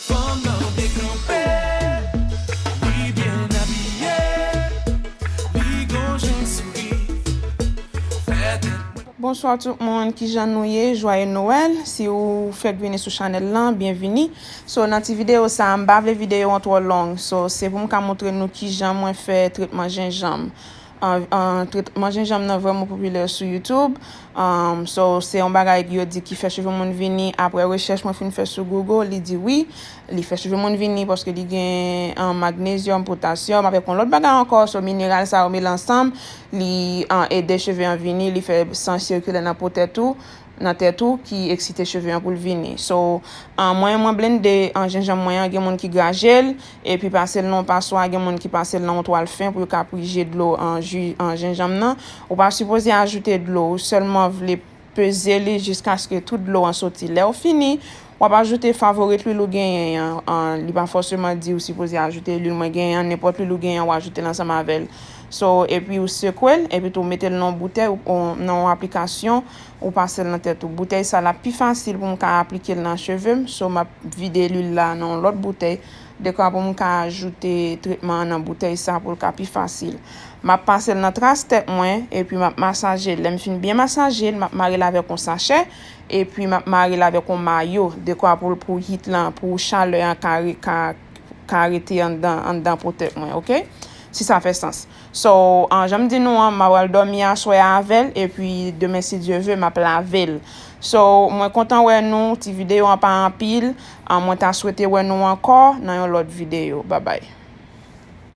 Fanm nan dekanpe, li byen abiye, li gon jan souri, fè tèt mwen. Bonsoir tout moun kijan nou ye jwaye noel si ou fèk vini sou chanèl lan byenvini so nan ti video sa m pa vle video an twò long so se pou m ka moutre nou kijan mwen fè tretman jenjanm Tretman jenjanm nan vrèman popilè sou YouTube. So, se yon bagay yo di ki fè cheve moun vini. Aprè rechèch mwen fin fè sou Google, li di wi, li fè cheve moun vini paske li gen magnezyòm, potasyòm avèk yon lòt bagay ankò. So, mineral sa yo mele ansanm, li ede cheve an vini, li fè san sikile nan po tèt ou. nan tèt ou ki eksite cheve an poul vini so mwen mwen blende jenjanm mwen an gen moun ki grajel epi pasel nan yon paswa gen moun ki pasel nan yon twal fen pou yo ka prije dlo ju jenjanm nan ou pa sipoze ajoute dlo ou sèlman vle peze li jiskaske tout dlo an soti lèw fini Wap ajoute favorite lwil ou genyen an, li pa fòseman di ou sipoze ajoute lwil mwen genyen an, nenpòt lwil ou genyen an ou ajoutel ansanm avèl. So epi ou sekwel, epi tou ou metel nan yon boutèy ou nan yon aplikasyon ou pasel nan tèt ou. Boutèy sa lap pi fasil pou m ka aplikel nan chevem, so map vide lwil la nan yon lòt boutèy dekwa pou m ka ajoute tretman an nan boutèy sa poul ka pi fasil. Map pasel nan tras tèt mwen epi map masajel, lèm fin byen masajel map marel avèk yon sachè. Epi m ap mare l avèk yon mayo, dekwa pou pou heat lan, pou chalè an ka ka ka rete anndan anndan po tèt mwen ok. Si sa fè sans. So, jan m di nou an, m a pral dòmi aswè a avè l, epi demen si Dye ve, m ap lave l. So, mwen kontan wè nou, ti videyo an pa anpil, mwen ta swete wè nou ankò nan yon lòt videyo. Babay.